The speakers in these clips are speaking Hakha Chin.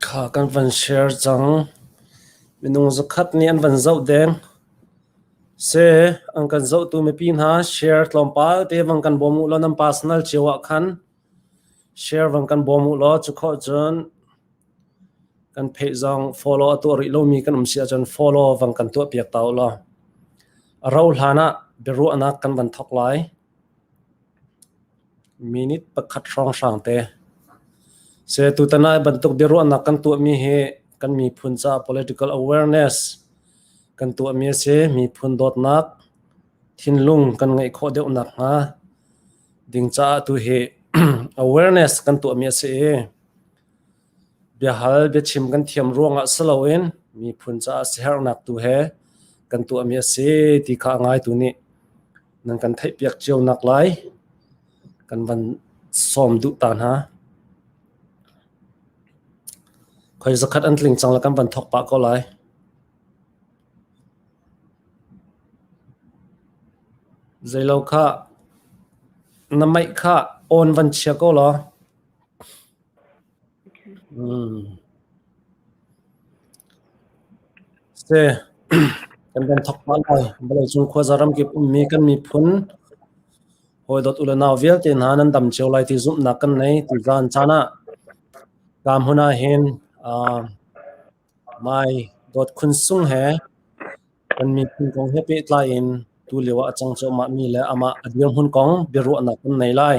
Kha kan van share cang. Minung zakhat nih an van zoh deng. Se an kan zohtu mipi hna share tlawmpal te bang kan bawm u law nan personal cio ah khan Share van kan bawm u law cukhawh cun kan pheih zong follow a tuah rih lomi kan um si ahcun follow van kan tuahpiak ta u law a ro hlan ah biaruahnak kan van thawk lai. Minute pakhat hrawnghrang te. Se tutan ai bantuk biaruahnak kan tuahmi hi kan miphun caah political awareness kan tuahmi a si. Miphun dawtnak, thinlung kan ngeih khawh deuh nakhnga ding caah tu hi awareness kan tuahmi a si i biahal biachim kan thiam ruangah si loin miphun caah siherhnak tu he kan tuahmi a si ti kha ngai tu nih nan kan theihpiak cio nak lai kan van sawm duh ta hna khoi zakhat an tling cang la kan van thok pah ko lai Na maih kha awn van chia ko law. Kan van thok pah lai. Vawleicung khua zaram kip ummi kan miphun hawidawt ule nau vialte hna nan dam cio lai ti zumhnak kan nei. Ti zaan caan ah, kam hun ah hin Mai dawt khun sung he kan miphun kong he pehtlai in tulio ah a cang cuahmah mi le amah a dirhmun kong biaruahnak kan nei lai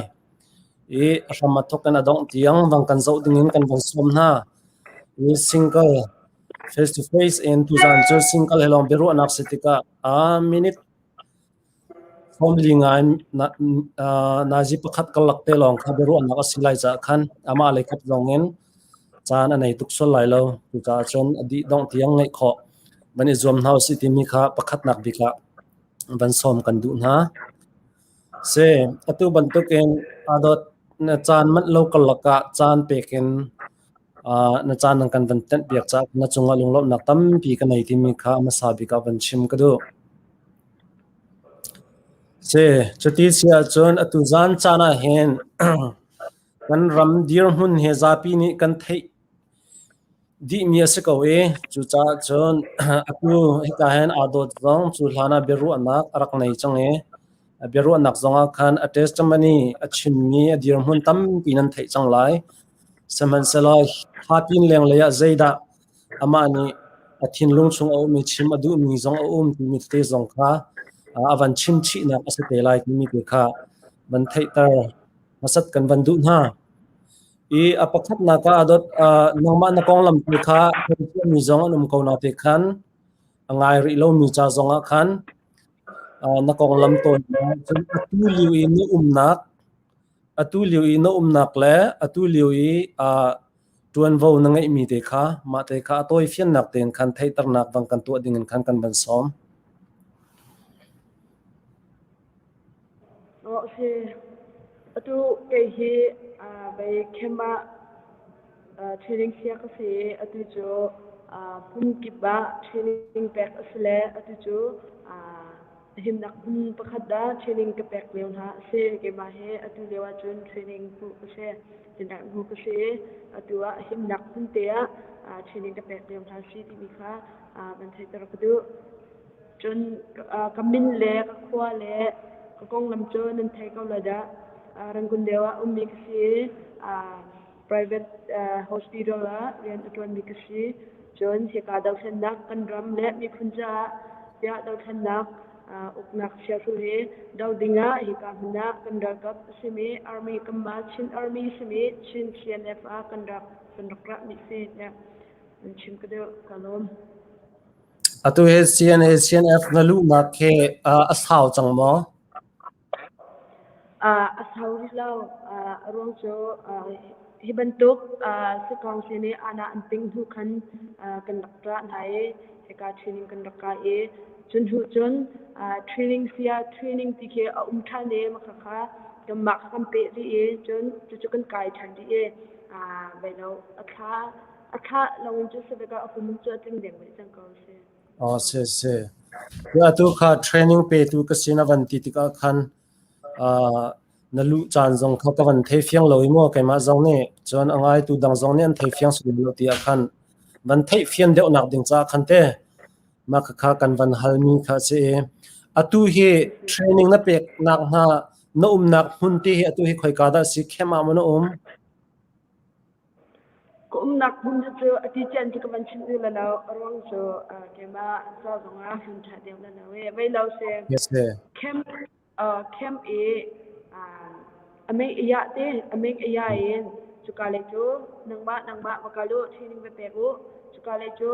i a hram a thawk in a dongh tiang bang kan zoh ding in kan vung sawm hna i single face to face in tuzan cu single he lawng biaruahnak si tikah a minute Phone ri ngai nazi pakhat karlak te lawng kha biaruahnak a si lai caah khan amah lei khat zongin caan a nei tuk sual lai lo. Cucaah cun a dih dongh tiang ngeih khawh van i zuam hna usih timi kha pakhatnak bik ah van sawm kan duh hna. Si, atu bantukin adot na caan manh lo karlak ah caan pek in na caan nan kan van ṭanhpiak caah na cungah lunglawmhnak tampi ka nei timi kha a hmasa bik ah van chim ka duh. Si, cuti si ahcun atu zan caan ah hin kan ram dirhmun he zapi nih kan theih dihmi a si ko i cucaah cun atu hika hin aa dawt zong cu hlan ah biaruahnak a rak nei cang i a biaruahnak zongah khan a testimony a chimmi a dirhmun tampi nan theih cang lai. Sihmanhsehlaw thla tin lenglei ah zeidah amah nih a thinlung chung a ummi chim a duhmi zong a um timi tete zong kha a van chimchihnak a si te lai timi te kha van theihter hmasat kan van duh hna. I a pakhatnak ah a dot uh, nangmah na konglam tu kha ṭhiamṭhiammi zong an um ko na te khan a ngai rih lomi ca zong ah khan uh, na konglam tawn cun atu liu i na umnak atu lio i na umnak le atu lio i uh, ṭuanvo na ngeihmi te kha mah te kha a tawi fiannak tein khan theihternak dang kan tuah ding in khan kan van sawm. Okay. Atu kei hi uh, bei khema training sia ka si atu cu hmun kip ah training pek a si le atu cu himnak hmun pakhat dah training ka pek lio hna a si keimah he atu lio ahcun training hmuh ka si tinak hmu ka si atu ah himnak hmun te ah training ka pek lio hna si timi kha kan theihter ka duh cun ka min le ka khua le ka konglam cu nan thei ko la dah rangun deu ah ummi ka si private hospital ah rian a ṭuanmi ka si. Cun hika dothlennak kan ram le miphun caah tiah dothlennak uknak chiahru hi do ding ah hika hmun ah kan ralkap a simi army kanmah Chin army simi Chin CNF ah kan rak kan rak ra mi si ne an chim ka deu ka lawm atu he CNA CNF na luhnak he a sau cang maw A sau rih lo. A ruang cu hi bantuk sakawng si nih aana an tinh hnu khan kan rak ṭah hna i hika training kan rak kai i cu hnu cun training saya training ti khi a um ṭhan i makha kha kanmah kha kan peh rih i cun cucu kan kai ṭhan rih i vai lo a thla a thla lawng in cu savek ah a hum cu a tling dengmeh cang ko a si. Atu kha training petu ka si na van ti tikah khan na luh caan zong kha ka van thei fiang lo i maw keimah zong nih cun a ngaitu dang zong nih an thei fiang sung lo ti ah khan van theih fian deuhnak ding caah khan te mah khakha kan van halmi kha a si i atu hi training na peknak hnga na umnak hmun ti hi atu hi khoika dah a si, khem ah maw na um? Ka umnak hmun cu a ti cian ti ka van chim ul lo. A ruang cu keimah ca zongah hmun ṭha deuh na lo i vei lo si camp camp i a meng a yah te a meng a ya in cuka lei cu nangmah nangmah va kal u ṭhining va pek u cuka lei cu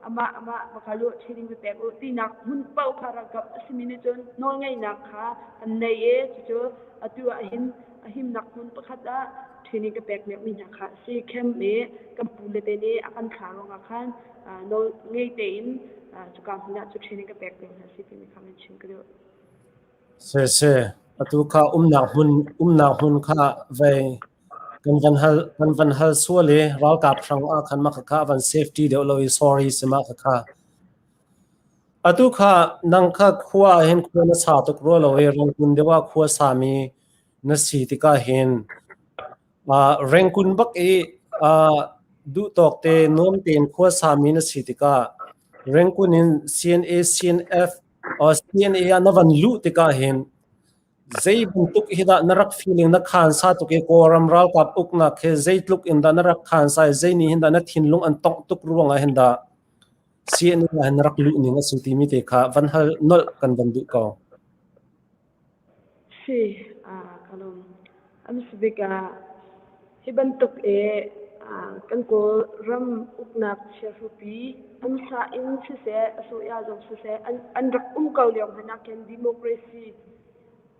amah amah va kal u ṭhining va pek u tinak hmun paoh kha ralkap a simi nih cun nawlngeihnak kha an nei i cucu atu ah hin a himnak hmun pakhat ah ṭhen i ka pekmiakmi hna kha a si. Camp i kan pule te nih a kan thlah ruangah khan nawl ngei tein cuka hmun ah cu ṭhen i ka pek ding hna a si timi kha kan chim ka duh. Sese, atu kha umnak hmun umnak hmun kha vei kan van hal kan van hal sual i ralkap hrang ah khan mah kha van safety deuh lo i sorry si mah kha atu kha nang kha khua hin khua na sa tuk rua lo i rangkun deuh ah khua sa mi Na si tikah hin rengkun bak i duhtawk te nuam tein khuasami na si tikah rengkun in CNA, CNF, CNA ah na van luh tikah hin zeibantuk hi dah na rak feeling na khansa tuk i Kawlram ralkap uknak hi zeitluk in dah na rak khansa i zei nih hin dah na thinlung an tongh tuk ruangah hin dah CNA ah hin na rak luh ning a si timi te kha van hal nolh kan van duh ko. Si, ka lawm. A hmasa bik ah, hi bantuk i kan Kawlram uknak chiahrupi hmansa in siseh, a soya zong siseh, an rak um ko lio hmanh ah khin democracy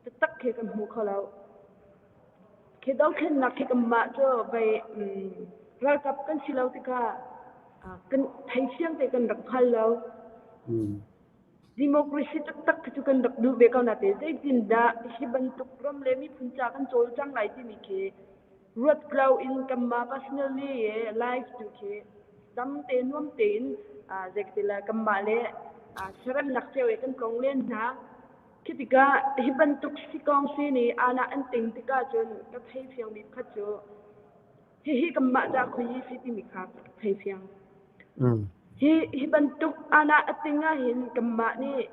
taktak khi kan hmu kho lo. Khi dothlennak khi kanmah cu vei ralkap kan si lo tikah kan thei fiang te kan rak hngal lo. democracy taktak khi cu kan rak duh ve ko na te zeitindah hi bantuk ram le miphun ca kan cawlcang lai timi khi ruat klau in kanmah personally life tu khi tamte nuam tein zekatila kanmah le seremnak ceo kan tlong len hna khi tikah hi bantuk sikong si ni ana an ting tikah cun ka thei fiangmi phat cu hihi kanmah ca khoi i si timi kha thei fiang. Mm. Hi hi bantuk ana ating ahhin kanmah nih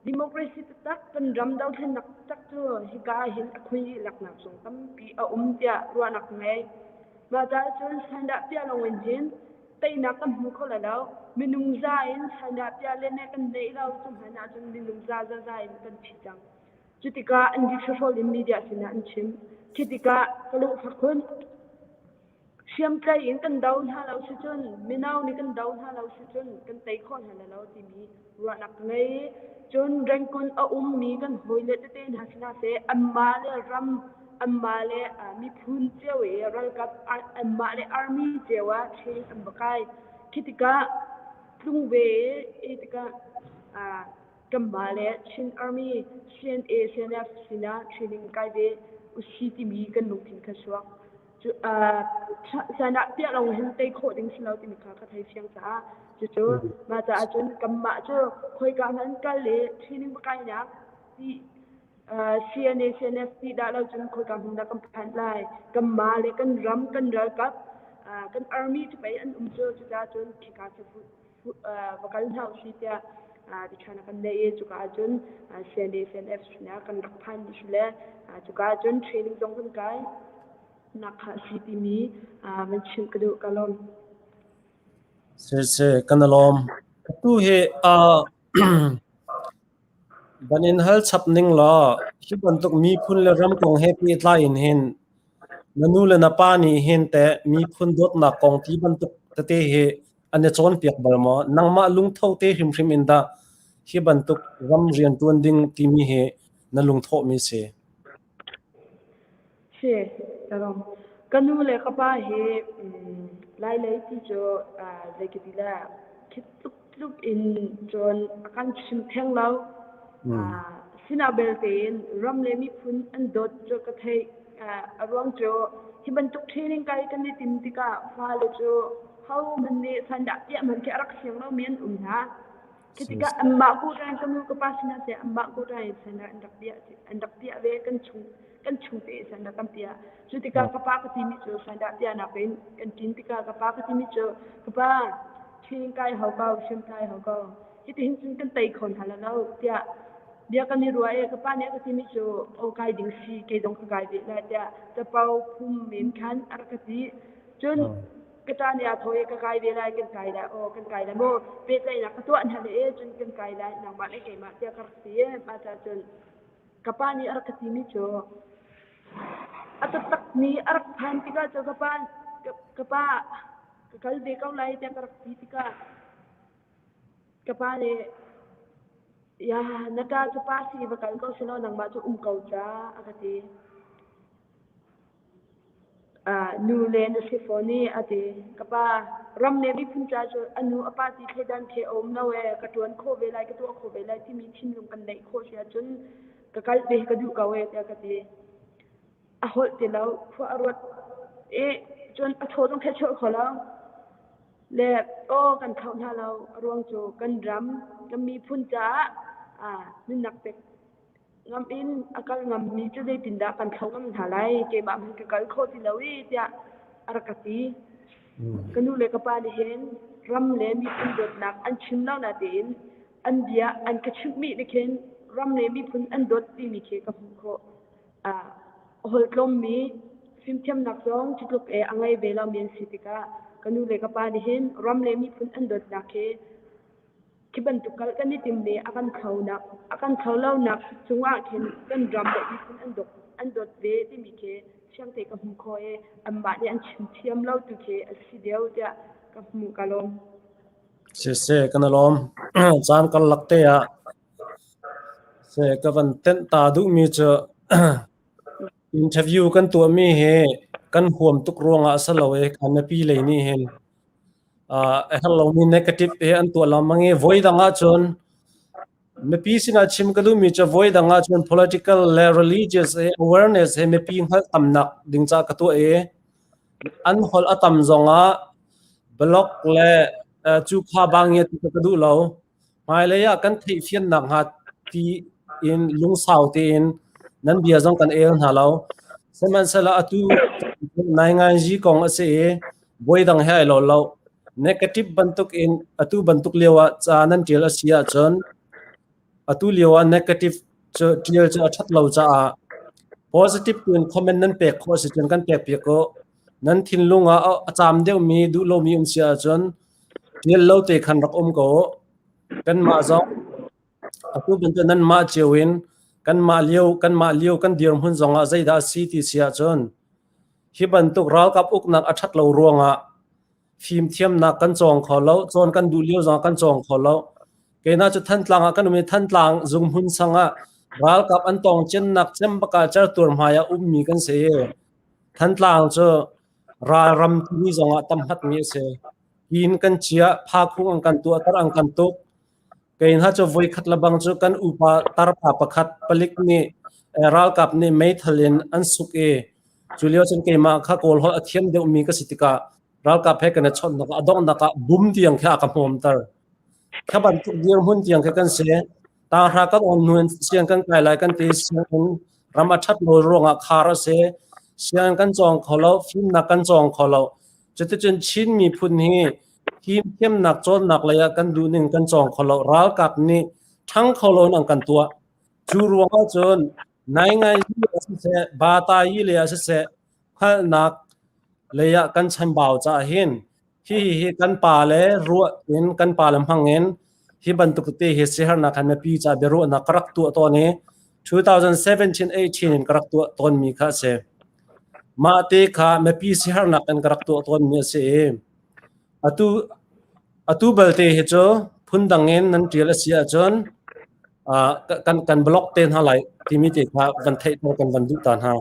democracy tak kan ram dothlennak tak cu hika hin akhui laknak zong tampi a um tiah ruahnak ngei. Mah ta cun sandah pia longin hin teinak kan hmu kho lo minung za in sandah pia lene kan nei lo cu hmanah cun minung za za za in kan thi cang. Cutikah an disahrawl in media sinah an chim. Khi tikah ka lungfa khun hriamtlai in kan do hna lo si cun mino nih kan do hna lo si cun kan tei khawh hna lo timi ruahnak ka ngei. Cun Rangoon a ummi kan hawile tete hna sinah seh anmah le ram anmah le uh, miphun cio i ralkap ar- anmah le army cio ah training an va kai. Khi tikah tlung ve i tikah uh, Kanmah le Chin Army, CNA, CNF sinah training kai ve usi timi kan lungthin kha suak. Cu, uh, sanah piah lo hin tei khawh ding si lo timi kha ka thei fiang caah. Cucu, ma caah cun kanmah cu khoika hmanh kal le training pakai nak ti uh, CNA, CNF ti dah lo cun khoika hmun dah kan phan lai. Kanmah le kan ram, kan ralkap, uh, kan army cu pei an um cu, cuca cun khika se fut. va kal hna usi tiah tiṭhan a kan neih i cuka ah cun CND CNF sin ah kan rak phan dih le cuka ah cun training zong kan kai nak kha a si timi van chimh ka duh ka lawm. Sirse kan i lawm. Tu hi van in hal chap ning law hi bantuk miphun le ram kong he pehtlai in hin na nu le na pa nih hin te miphun dawtnak kong ti bantuk tete hi an i cawnpiak bal maw nangmah lungtho te hrimhrim in dah hi bantuk ram rian ṭuan ding timi hi na lungthawhmi si si tarom ka nu le ka pa hi lai lei ti cu zeikiti la khi tluk tluk in cun kan chim theng lo Sinah beltein ram le miphun an dot cu ka theih a ruang cu hi bantuk training kai kan i tim tikah fale cu homan nih sandah piahman khi a rak siang lomi an um hna. Ketika anmah ku rai ka nu ka pa sinah se anmah ku rai sandah an rak piah an rak piah ve kan chung kan chung te sandah kan piah cu tikah ka pa ka timi cu sandah piahnak in kan tin tikah ka pa ka timi cu ka pa training kai hau ko siam kai hau ko Hitihin cun kan tei kho hna lo lo tiah bia kan i ruah i ka pa nih ka timi cu aw kai ding si kei zong ka kai ve le tiah capo phum men khan a rak ka ti cun ka ṭa nih a thaw i ka kai ve lai kan kai lai aw kan kai lai maw pehtlaihnak ka tuah hna le e cun kan kai lai nangmah le keimah tiah ka rak ti i mah ca cun ka pa nih a rak ka timi cu a taktak mi a rak phan tikah cu ka pa ka pa ka kal ve ko lai tiah ka rak ti tikah Ka pa nih, "Iah, na ṭa cu pa si va kal ko seh law nangmah cu um ko ca," a ka ti. Ah, nu le na si fawn i, a ti. Ka pa, ram le miphun ca cu a nu a pa ti thleidan thei a um lo ee, ka ṭuan khawh ve lai, ka tuah khawh ve lai timi thinlung kan neih khawh si ahcun ka kal ve ka duh ko ee, tiah ka ti. a holh ti lo khua a ruat i cun a thaw zong thechhuah kho lo le aw kan tho hna lo a ruang cu kan ram kan miphun caah nunnak pek ngam in a kal ngammi cu zeitindah kan thlo ngam hna lai keimah hmanh ka kal kho ti lo i tiah a rak ka ti ka nu le ka pa nih hin ram le miphun dawtnak an chim lo natein an bia an ka chimhmi nih khin ram le miphun an dawt timi khi ka hmuh khawh a holtlawmmi fimthiamnak zong Cutluk e a ngei ve lomi an si tikah ka nu le ka pa nih hin ram le miphun an dawtnak hi khi bantuk kal kan i timmi a kan thlonak a kan thlo lonak cungah khin kan ram le miphun an dawt an dawt ve timi khi thiang te ka hmu kho e anmah nih an chim thiam lo tu khi a si deuh tiah ka hmu ka lawm. Siseh, kan i lawm. Caan kan lak te ah Ka van tenh ta duhmi cu interview kan tuahmi hi kan huam tuk ruangah a si lo i kan mipi lei nih hin a herh lomi negative hi an tuah lengmang i voidang ahcun mipi sinah chim ka duhmi cu voidang ahcun political le religious i awareness he mipi hngalhtamnak ding ca ka tuah i an holh a tam zongah blog le cuka bang i ka duh lo. hmailei ah kan theihfian nakhnga tiin lungsau tein nan bia zong kan el hna lo. Sihmanhsehlaw atu nai ngainzi kong a si i voi dang he ai lo lo. Negative bantuk in atu bantuk lio ah ca nan ṭial a si ahcun atu lio ah negative cu ṭial cu a ṭhat lo caah positive tu in comment nan pek khawh a si cun kan pek piak ko. Nan thinlung ah a caam deuhmi duh lomi um si ahcun Nel lo te khan rak um ko. Kanmah zong atu bantuk nanmah cio in kanmah lio kanmah lio kan dirhmun zongah zeidah a si ti si ahcun hi bantuk ralkap uknak a ṭhat lo ruangah fimthiamnak kan cawng kho lo, cawn kan duh lio zongah kan cawng kho lo. Keinak cu Thantlang ah kan um i Thantlang zunghmun sangah ralkap an tongciannak cem bakah certuar hmai ah ummi kan si i Thantlang cu Ralram timi zongah tam hatmi a si. Hi in kan chiah, phakhung an kan tuahter, an kan tuk. Kei hna cu voikhat le bang cu kan upa tarpa pakhat palik nih ralkap nih meithal in an suk i cu lio cun keimah kha kawlholh a thiam deuhmi ka si tikah ralkap he kan i chawnhnak a donghnak ah bum tiang khe a ka hmawmter. Kha bantuk dirhmun tiang khe kan si. Tahra kan on hnu in siang kan kai lai kan ti siang in ram a ṭhat lo ruangah khar a si. Siang kan cawng kho lo, fimnak kan cawng kho lo. Cuticun Chin miphun hi fimthiamnak cawnnak lei ah kan duhning kan cawng kho lo. Ralkap nih ṭhang kho loin an kan tuah. Cu ruangah cun naingai hi a siseh, bata hi le a siseh, Hngalhnak lei ah kan chambau caah hin hihi hi kan pa le ruah in kan pa le hmang in hi bantuk te hi sihernak khan mipi caah biaruahnak ka rak tuah tawn i 2017-18 in ka rak tuah tawn mi kha a si. Mah te kha mipi sihernak in ka rak tuah tawn mi a si i atu atu balte hi cu phundang in nan tial a si ahcun uh, kan kan block te hna lai timi te kha van theih kan van duh ta hna.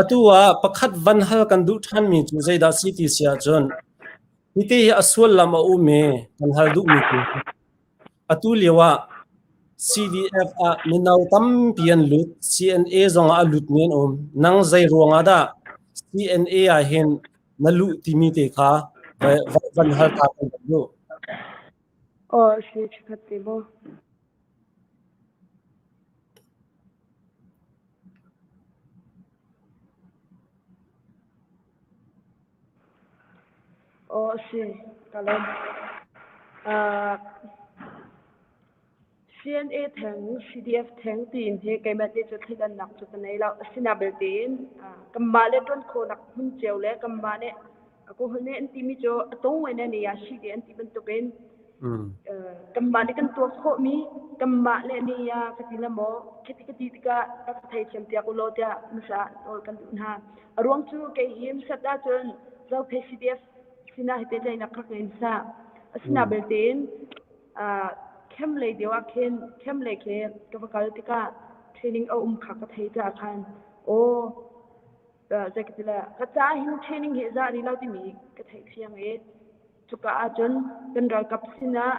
Atu ah pakhat van hal kan duh ṭhanmi cu zeidah a si ti si ahcun, hiti hi a sullam a um i kan hal duhmi thil cu atu lio ah CDF ah mino tampi an lut, CNA zong ah a lutmi an um. Nang zei ruangah dah CNA ahhin na luh timi te kha van hal ta kan duh. Aw, hri ṭhakhat ti maw? Aw a si, ka lawm. Uh, CNA theng, CDF theng tiin hi keimah te cu theidannak cu ka nei lo. Asina belte in, uh, kanmah le tuan khawnak hmun cio le kanmah nih alcohol ne an timi cu a tong wai ne ne ya shi te an ti bantukin kanmah nih kan tuak khawh mi kanmah le ni ya ka ti la maw kiti kati tika ka thei thiam piak ulo tia nusa tol kan du hna a ruang chu ke im sat da chun zo PCDF sina hite le na khak in sa asina betin a kem le dewa khen kem le ke ka vakal tika training a um kha ka thei ta khan o zeiti le ka ca hin training hi za rih lo timi ka theih thiam i cuka ahcun kan ralkap sinah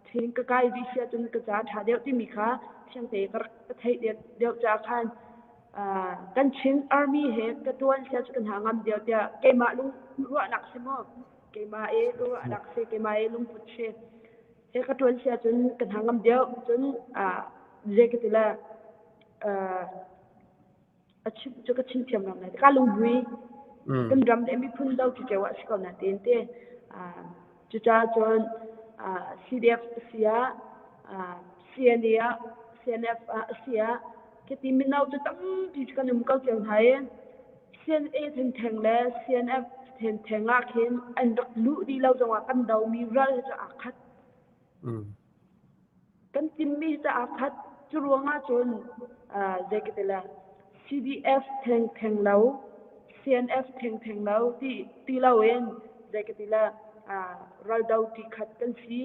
training ka kai dih si ahcun ka ca ṭha deuh timi kha thiang te ka theih deuh caah khan kan Chin Army he ka ṭuan sia cu kan ha ngam deuh tiah keimah lung ruahnak si maw keimah i ka ruahnak si keimah i lungput si he ka ṭuan sia cun kan ha ngam deuh cun zei ka ti le a chim cu ka chim thiam ram lai ka lungbui mm. kan ram le miphun do ki keu a si ko na tin te cu ta chon CDF sia CNA CNF sia ke ti minau tu tampi kan um ko cheu hai CNA then theng le CNF then thenga khin an rak lu di lo jong kan do mi ral ja akhat mm kan timmi caah khat cu ruangah cun zei ka ti le CDF theng theng lo CNF theng theng lo ti ti loin zei ka ti le raldo ti khat kan si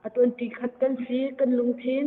a tuanti khat kan si kan lungthin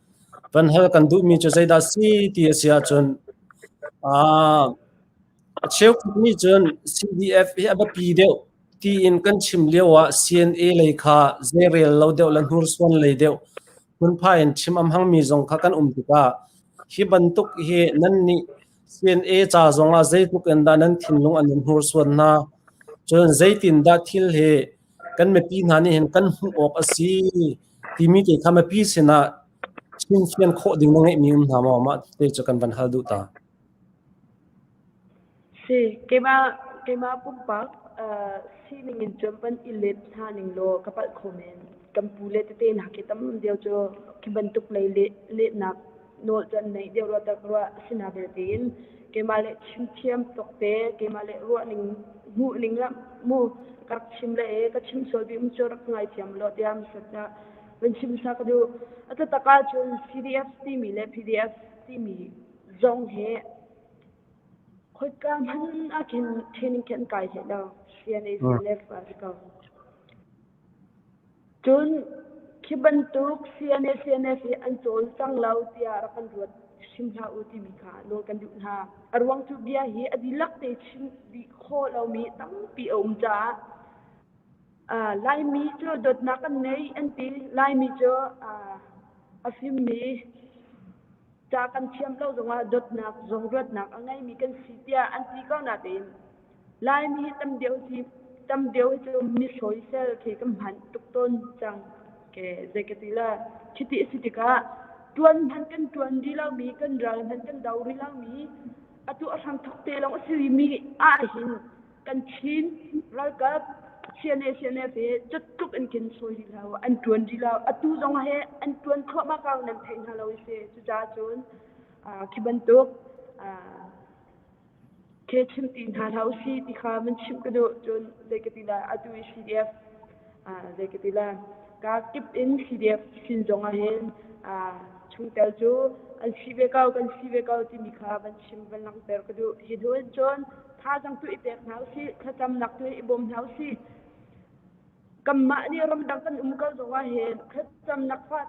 Kan hal kan duhmi cu zeidah si ti a si ahcun aa a cheukhat nih cun CDF hi a biapi deuh tiin kan chim lio ah CNA lei kha zeirel lo deuh le hnursuan lei deuh phunphai in chim a hmangmi zong kha kan um tikah hi bantuk hi nan nih CNA ca zong ah zeitluk in dah nan thinlung an in hnursuan hna cun zeitindah thil hi kan mipi hna nih hin kan hmuh awk a si timi te kha mipi sinah chimfian khawh ding na ngeihmi um hna maw mah te cu kan van hal duh ta. Si, keimah keimah pumpak uh, sining in cuapan i let hna ning law ka palh kho men. Kan pu le tete na ke tam deu cu ki bantuk lei le le nak nawl can nei deuh rua tak rua sina belte in keimah le chim thiam tok te keimah le ruah ning hmuh ning la mu kak chim le e ka chim sol bim chu rak ngai thiam lo tiam sata van chim sak du ata taka chun CDF timi le PDF timi zong he khoika man akin training ken kai he da CNA CNF ka Cun khi bantuk CNA CNF hi an cawl cang lo tiah rak kan ruat hrim hlah u timi kha nawl kan duh hna. A ruang cu bia hi a dihlak te chim dih khawh lomi tampi a um caah uh, Laimi cu dawtnak an ngei an ti. Laimi cu uh, a fimmi ca kan thiam lo zongah dawtnak zong ruatnak a ngeimi kan si tiah an ti ko natein Laimi tam deuh hi tam deuh cu mi hroisel khi kan hman tuk tawn cang ke zei ka ti la chiti a si tikah tuan hman kan tuan di lomi kan ral hman kan do rih lomi atu a hrang thok te lawng a silimi ahhin kan chin ralkap siane siane pe cuttuk in kin soi rih lo an tuan rih lo atu zong he an tuan thluahmah kau nan thei hna lo i se cuca cun khi bantuk chimti hna hlah usih ti kha van chimh ka duh cun zei ka ti la atu i PDF zei ka ti la ka kip in PDF sin zongah hin chungtel cu an si ve ko kan si ve ko timi kha van chim van langhter ka duh hi hnu cun tha zang tu i pek hna usih thlacam nak tu i bawm hna usih kanmah nih ramdang kan um ko zong ah hin khetcam nak fat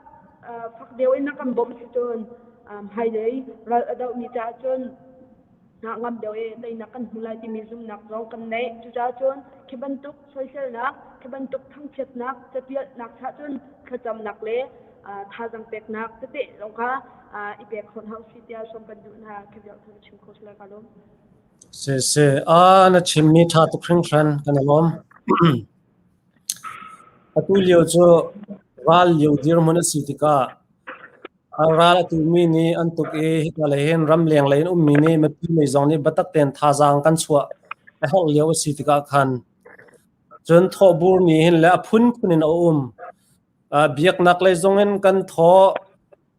fak deu in na kan bawm si cun hmai dei ral a doh mi ca cun na ngam deu e tei na kan hmu lai timi zumnak zong kan nei cuca cun khi bantuk soiselnak khi bantuk thangchiatnak catialnak cha cun thlacamnak le thazang peknak tete zong kha i pek hon hau si tia som kan duh hna khi biak thang chim ko sila ka lum Sehseh aa na chimmi ṭha tuk hringhran kan i lawm. Atu lio cu ral lio dirhmun a si tikah a ral a tumi nih an tuk i hika lei hin ramleng lei in ummi nih mipi lei zong nih biatak tein thazaang kan chuah a herh lio a si tikah khan cun thawhbur nih hin le a phunphun in a um. Biaknak lei zongin kan thawh.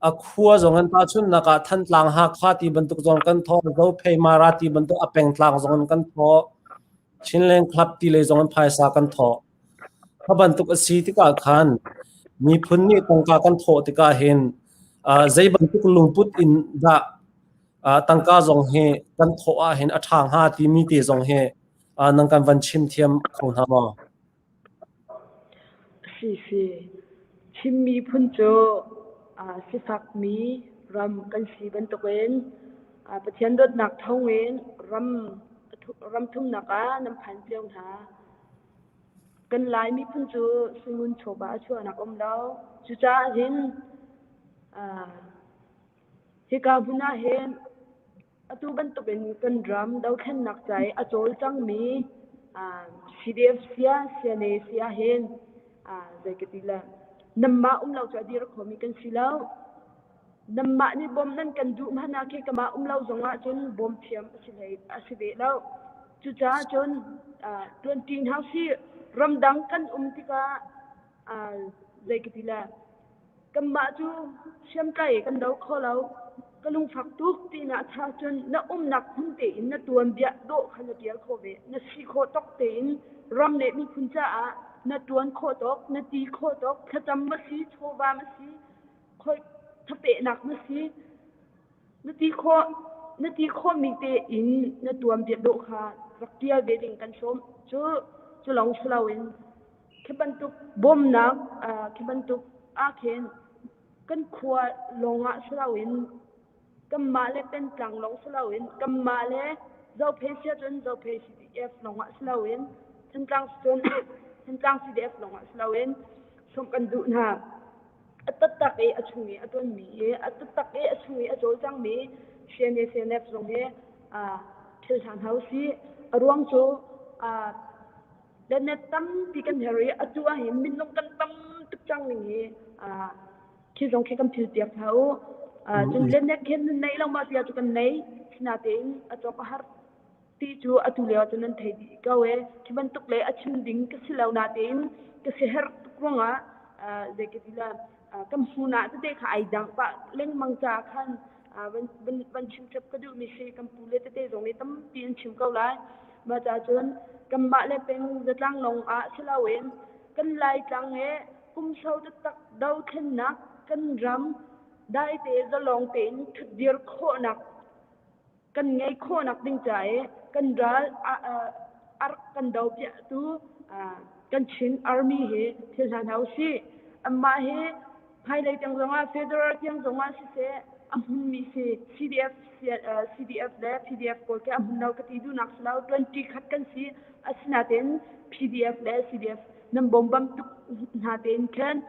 A khua zongin tahchunhnak ah Thantlang Hakha ti bantuk zong kan thawh. Zophei Mara ti bantuk a pengtlang zongin kan thawh. Chinland Club ti lei zongin phaisa kan thawh. Ka bantuk a si tikah khan miphun nih tangka kan thawh tikah hin zei bantuk lungput in dah tangka zong hi kan thawh ahhin a ṭha hnga timi te zong hi nan kan van chim thiam kho hna maw? Sisi, Chin miphun cu sifakmi ram kan si bantukin Pathian dawtnak thawngin ram thumnak ah nan phan cio hna. Kan Lai miphun cu sungun chawva a chuahnak a um lo. Cucaah hin hika hmun ah hin Atu bantukin kan ram dothlennak ca i a cawlcangmi CDF sia, CNA sia hin zei ka ti le nanmah um lo cu a dir khomi kan si lo. Nanmah nih bawm nan kan duh hmanh ah khi kamah um lo zong ahcun bawm thiam a si hlei a si ve lo. Cucaah cun ṭuanṭi hna usih. Ramdang kan um tikah zei ka ti le Kanmah cu hriamtlai kan do kho lo. Ka lungfak tuk tinak achah cun na umnak hmun tein na tuanbia dawh kha na tial kho ve. Na si khawh tok tein ram le miphun caah na tuan khawh tok, na ti khawh tok, thlacam va si, chawva ma si, khoi thapehnak ma si, na ti khawh na ti khawhmi tein na tuanbia dawh kha rak tial ve ding kan sawm. Cu cu lawng si loin Khi bantuk bawmnak khi bantuk ah khin kan khua lawngah si loin kanmah le pengtlang lawng si loin kanmah le Zophei si ahcun Zophei CDF lawngah si loin Thantlang cun Thantlang CDF lawngah si loin sawmh kan duh hna. A tattak i a chung i a tonmi i a tattak i a chung i a cawlcangmi CNA CNF zong hi thil ṭha hna usih. A ruang cu Planet tampi kan her i atu ahhin minung kan tam tuk cang ning hi khi zong khi kan thil piak hna u. Cun planet khin nan nei lo ma tia cu kan nei. Sinatein a cawk a har ti cu atu lio cun an thei dih ko e. Khi bantuk le a chim ding ka si lo natein ka si her tuk ruangah zeikadila kan hmun ah tete kha ai dang pah lengmang caah khan van chim chap ka duhmi si kan pu le tete zong nih tampi an chim ko lai mah cahcun kanmah le peng zatlang lawng ah si loin kan laitlang he kumso taktak dothlennak kan ram daite zalawng tein ṭhutdir khawhnak kan ngei khawhnak ding ca i kan ral ark kan do piahtu kan Chin Army hi thil hna hna usih. Amah hi hmailei tiang zongah federal tiang zongah siseh a hmunmi si CDF CDF le PDF pawl ke a hmun lo ka ti dunak si lo 20 khat kan si asinaten PDF le CDF nan bombam tuk hna tein khen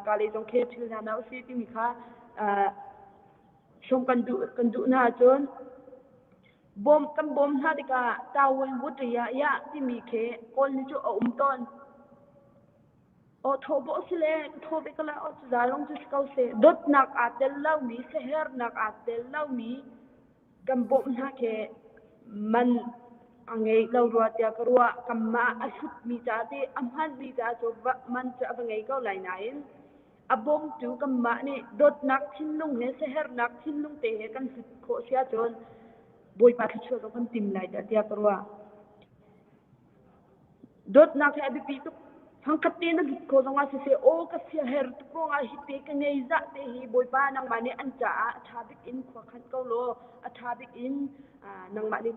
kale zong khe thil hna na usi timi kha som kan duh kan duh na cun bom kan bom hna tikah tawon wuta ya ya timi khe kawl ni chu a um ton Aw thawhbawh sile ka thawh bik la aw cu zalong cu si ko seh. Dawtnak aa tel lomi, siaherhnak aa tel lomi kan bawmh hna khi man a ngei lo rua tiah ka ruah. Kanmah a hlutmi caah ti a hmanmi caah cu man cu a va ngei ko lai nain a bawmtu kanmah nih dawtnak thinlung he siaherhnak thinlung te he kan hlut khawh si ahcun Bawipa thluachuah zong kan tim lai tiah ka ruah. dawtnak hi a biapi tuk thangkhat te na git ko zongah siseh aw ka siaher tuk ruangah hi te ka ngei zah te hi bawipa nangmah nih an caah a ṭha bik in khua khan ko law a ṭha bik in nangmah nih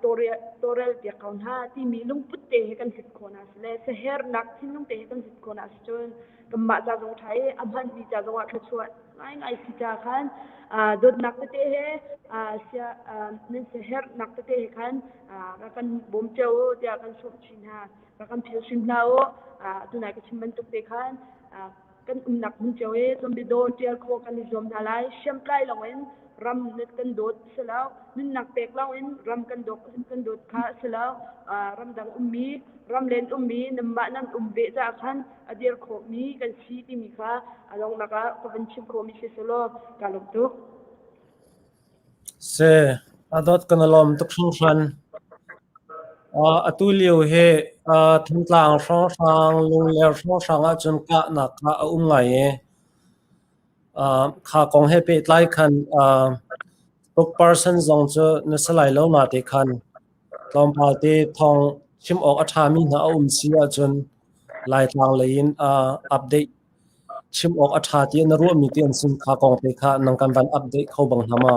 tawrel piak ko hna timi lungput te he kan hlut khawh hna si le sahernak thinlung te he kan hlut khawh hna si cun kanmah ca zong ṭha i a hmanmi ca zongah thluachuah ngaingai si ca khan dawtnak tete he sia nan siaherhnak tete he khan ka kan bawm cio u tiah kan sawm chin hna ka kan phil hrim hna u tunai ka chim bantuk te khan kan umnak hmun cio i tlawmbidaw ṭial khaw kan i zuam hna lai hriamtlai lawngin ram kan dawt si lo nunnak pek lawngin ram kan dawt kan dawt kha si lo ramdang ummi ram len ummi nanmah nan um ve caah khan a dir khawhmi kan si timi kha a donghnak ah ka van chim khawhmi si selaw ka lawm tuk. Se adot kan lawm tuk hringhran. Uh, atu lio he uh, thingtlang hrawnghrang lungler hrawnghrang ahcun kahnak kha a um ngai e. Uh, kha kong he pe tlai khan uh, tuk person zong cu na salai lo na te khan Tlawmpal te thawng chim awk a ṭhami hna a um si ahcun Laitlang lei in ah update chim awk a ṭha ti na ruahmi te an si kha kong te kha nan kan van update kho bang hnga ma?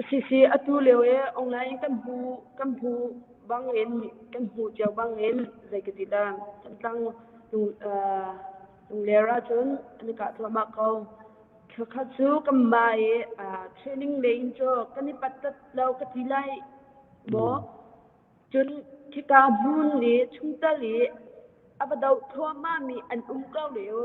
Si si atu lio e online kan hmu kan hmu bangin kan hmu cio bangin zei ka ti dan Thantlang tung uh, tung ler ahcun an i kah thluahmah ko. Thla khat cu kan ba i training leiin caw kan i pattat lo ka ti lai maw. Cun khika hmun i chungtel i a va doh thluahmahmi an um ko lio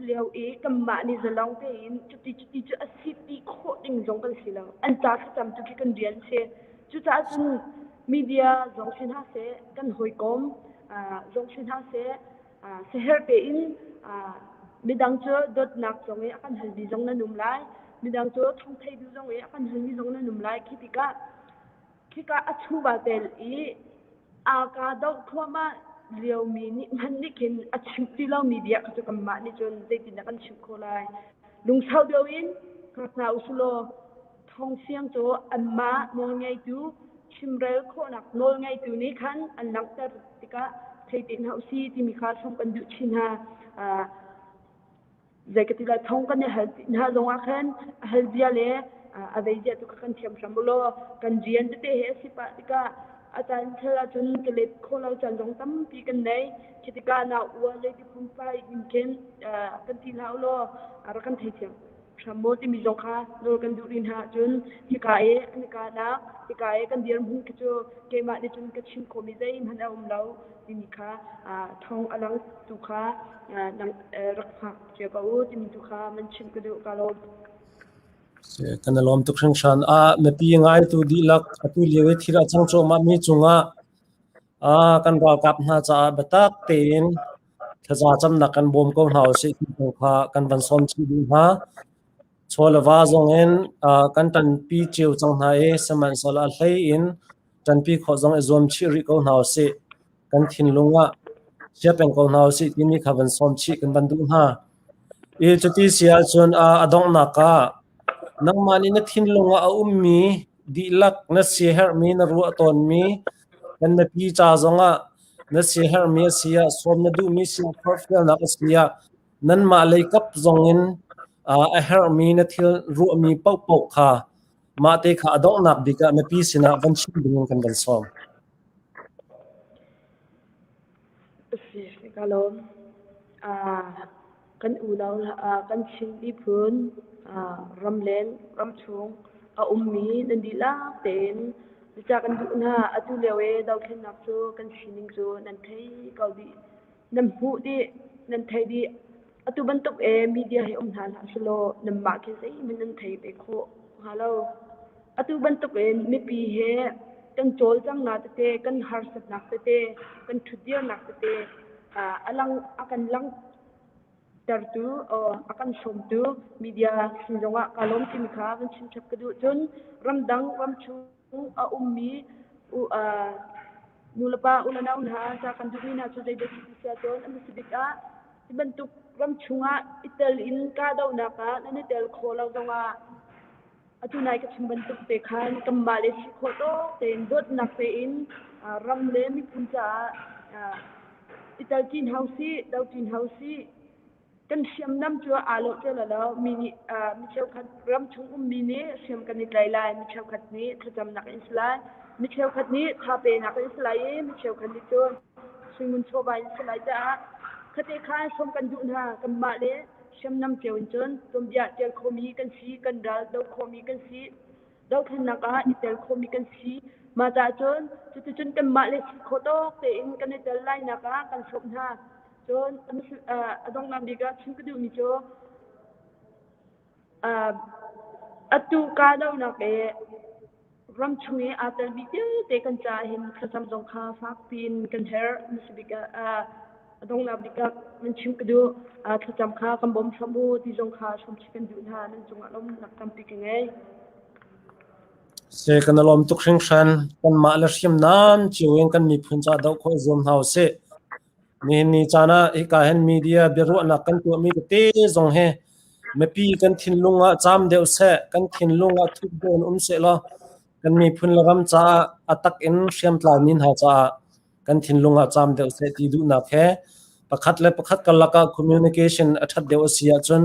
lio i kanmah nih zalong tein cuti cuti cu a si ti khawh ding zong kan si lo. An ca thlacam cu khi kan rian si. Cucaah cun media zong si hna seh, kan hawikom zong si hna seh, siherh tein midang cu dawtnak zong i a kan halmi zong nan um lai midang cu thongthei bu zong i a kan halmi zong nan um lai khi tikah khika a chuva tel i aa ka doh thluahmah liomi nih hman nih khin a chimh ti lomi bia kha cu kanmah nih cun zeitindah kan chimh khawh lai lungsau deuh in hngak hna u sih law Thawngsiang cu anmah nawlngeitu, chimrel khawhnak nawlngeitu nih khan an langhter tikah thei tein hlah u si timi kha thlum kan duh chin hna. zei ka ti la thong kan i hal hna zongah khan a hal zia le a zei zia tu kha kan thiam hram law kan rian tete he a si pah tikah a caan thel ahcun ka let kho lo caan zong tampi kan nei khi tikah na ua le tiphum fai in khin kan ti hlah u law rak kan thei thiam hram maw timi zong kha nawl kan duh rih hna ahcun hika i an i kahnak hika i kan dirhmun khi cu keimah nih cun ka chim khawhmi zeihmanh a um lo timi kha thawng a lang tu kha rak hngak cio ko u timi tu kha man chim ka duh ka lawm. kan i lawm tuk hringhran a mipi ngaitu dihlak atu lio i thil a cang cuahmah mi cungah kan ralkap hna caah biatak tein thlaza camnak kan bawm ko hna usih ti kong kha kan van sawm chih dih hna. Chawleva zongin kan ṭanpi cio cang hna i sihmanhsehlaw hlei in ṭanpi khawh zong i zuam chih rih ko hna usih. Kan thinlung ah chia peng ko hna usih timi kha van sawm chih kan van duh hna. Cuti si ahcun a donghnak ah nangmah nih na thinlung ah a ummi dihlak na siaherhmi na ruah tawnmi Kan mipi ca zongah na siaherhmi a si ah, sawm na duhmi si ah, forhfialnak a si ah nanmah lei kap zongin a herhmi na thil ruahmi paohpaoh kha mah te kha a donghnak bik ah mipi sinah van chim ding in kan van sawm. A si ka lawm. Ah, kan unau ah kan Chinmi phun ah ramleng ramchung a ummi nan dihlak tein biacah kan duh hna. Atu lio i dothlennak cu kan sining cu nan thei ko dih. Nan hmuh dih, nan theih dih. Atu bantuk e media hi um hna hlah selaw nanmah khi zeihmanh nan thei ve khawh hnga lo. Atu bantuk in mipi he kan cawlcanghnak tete, kan harsatnak tete, kan ṭhutdirnak tete a lang a kan langh tertu a kan sawmtu media sin zongah kaa lawm timi kha kan chim chap ka duh cun ramdang ram chung a ummi nulepa unau hna ca kan duhmi hna cu zeidah si sia cun an si bik ah hi bantuk ram chungah i tel in kahdohnak ah nan i tel khawh lo zongah atu nai ka chim bantuk te khan kanmah le si khawh tawk tein dawtnak tein ram le miphun caah i tel ṭin hau sih, do ṭin hau sih kan hriamnam cu aa lo ceu lo lo mi nih mi cheukhat ram chung ummi nih hriam kan i tlai lai mi cheukhat nih thlacamnak in si lai mi cheukhat nih thapenak in si lai i mi cheukhat nih cun hringun chawva in si lai caah khate khan hrawm kan duh hna kanmah le hriamnam cio in cun tuanbia ṭial khomi kan si kan ral do khomi kan si dothlennak ah i tel khomi kan si mah cah cun cuticun kanmah le si khawh tawk tein kan i tel lainak ah kan hrawm hna Cun a donghnak bik ah chim ka duhmi cu atu kahdohnak i ram chung i aa telmi vialte kan ca hin thlacam zong kha fakpi in kan herh. Hmasa bik ah a donghnak bik ah kan chim ka duh thlacam kha kan bawm hram u ti zong kha hramchih kan duh hna. Nan cungah lawmnak tampi ka ngei. Se kan lawm tuk hringhran. Kanmah le hriamnam cio in kan miphun caah doh khawh zuam hna u sih. Nihin ni caan ah hika hin media biaruahnak kan tuahmi tete zong hi mipi kan thinlung ah cam deuh seh, kan thinlung ah thup deuh um seh law kan miphun le ram caah a tak in hriamtlarmi hna caah kan thinlung ah cam deuh seh ti duhnak he pakhat le pakhat karlak ah communication a ṭhat deuh a si ahcun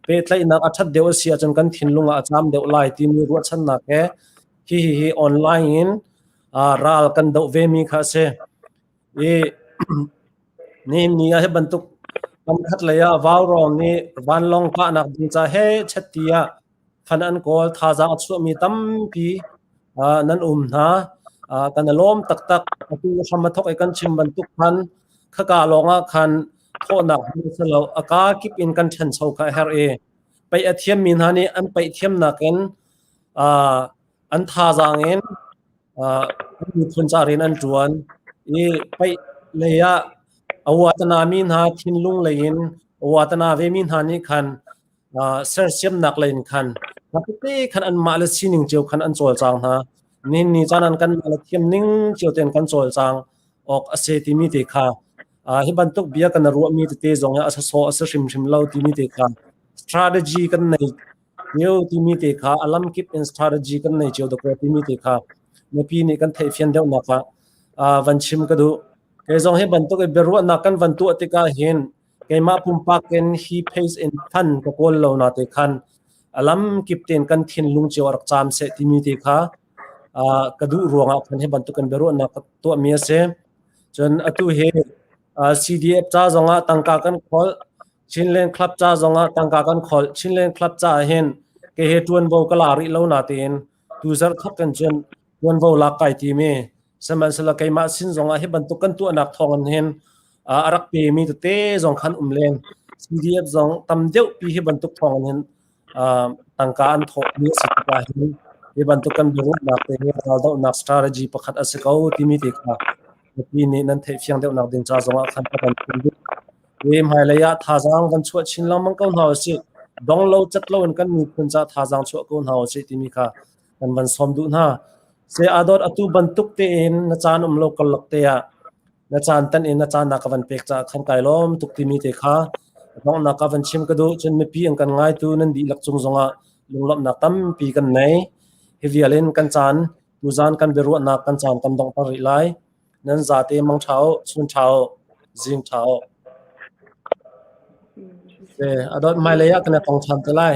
pehtlaihnak a ṭhat deuh a si ahcun kan thinlung ah a cam deuh lai timi ruahchannak he hi hi hi online in ral kan doh vemi kha a si. Nihin ah hi bantuk kamkhat lei ah Vaurawng nih vanlawng kahnak ding ca he chetti ah than an kawl. Thazaang a chuahmi tampi nan um hna. Kan i lawm taktak. Atu hram a thawk i kan chim bantuk khan khaka lawng ah khan thawhnak hmun si lo. A kaa kip in kan thencho kha a herh i pei a thiammi hna nih an pei thiamnak in an thazaang in miphun ca rian an ṭuan i paih lei ah a uatana mi hna thinlung lei in a uatana ve mi hna nih khan sersiamnak lei in khan tete khan anmah le sining cio khan an cawlcang hna ninni caan an kanmah le thiam ning cio ten kan cawlcang awk a si timi te kha hi bantuk bia kan ruahmi tete zong a sasawh a si hrimhrim lo timi te kha strategy kan nei Hneu timi te kha a lamkip in strategy kan nei cio dawk timi te kha mipi nih kan theih fian deuh nak ah uh, van chim ka duh. Kei zong hi bantuk i biaruahnak kan van tuah tik ah hin keimah pumpak in hi pace in than ka kawl lo na te khan alam kip ten kan thinlung cio arak cham se timi te kha uh, ka duh ruang ah khan hi bantuk kan biaruahnak ka tuah mi ase. Cun atu hi uh, CDF ca zong ah tangka kan khol Chinland Club ca zongah tangka kan kholh. Chinland Club caah hin kehe ṭuanvo ka la rih lo natein tu zarhkhat kan cun ṭuanvo lak kai timi. Sihmanhsehlaw keimah sin zongah hi bantuk kan tuahnak thawngin hin uh, a rak pemi tete zong khan um len. CDF zong tam deuh pi hi bantuk thawngin hin tangka an thawhmi a si tik ahhin hi bantuk kan biaruahnak te hi raldohnak strategy pakhat a si ko timi te kha mipi nih nan theih fiang deuhnak ding ca zongah khan ka kan phun ding hi hmailei ah thazaang kan chuah chin lengmang ko hna usih dong lo cat lo in kan miphun ca thazaang chuah ko hna usih timi kha kan van sawm duh hna se adot atu bantuk tein na caan um lo kallok te ah Na caan tan in na caannak a van pek caah khan kai lawm tuk timi te kha donghnak ah van chim ka duh cun mipi an kan ngaitu nan dihlak cung zongah lunglawmhnak tampi kan nei hi vial in kan caan tuzan kan biaruahnak kan caan kan dong ter rih lai nan zate mang thao chun thao zing thao se adot mai lei ah kan tong than te lai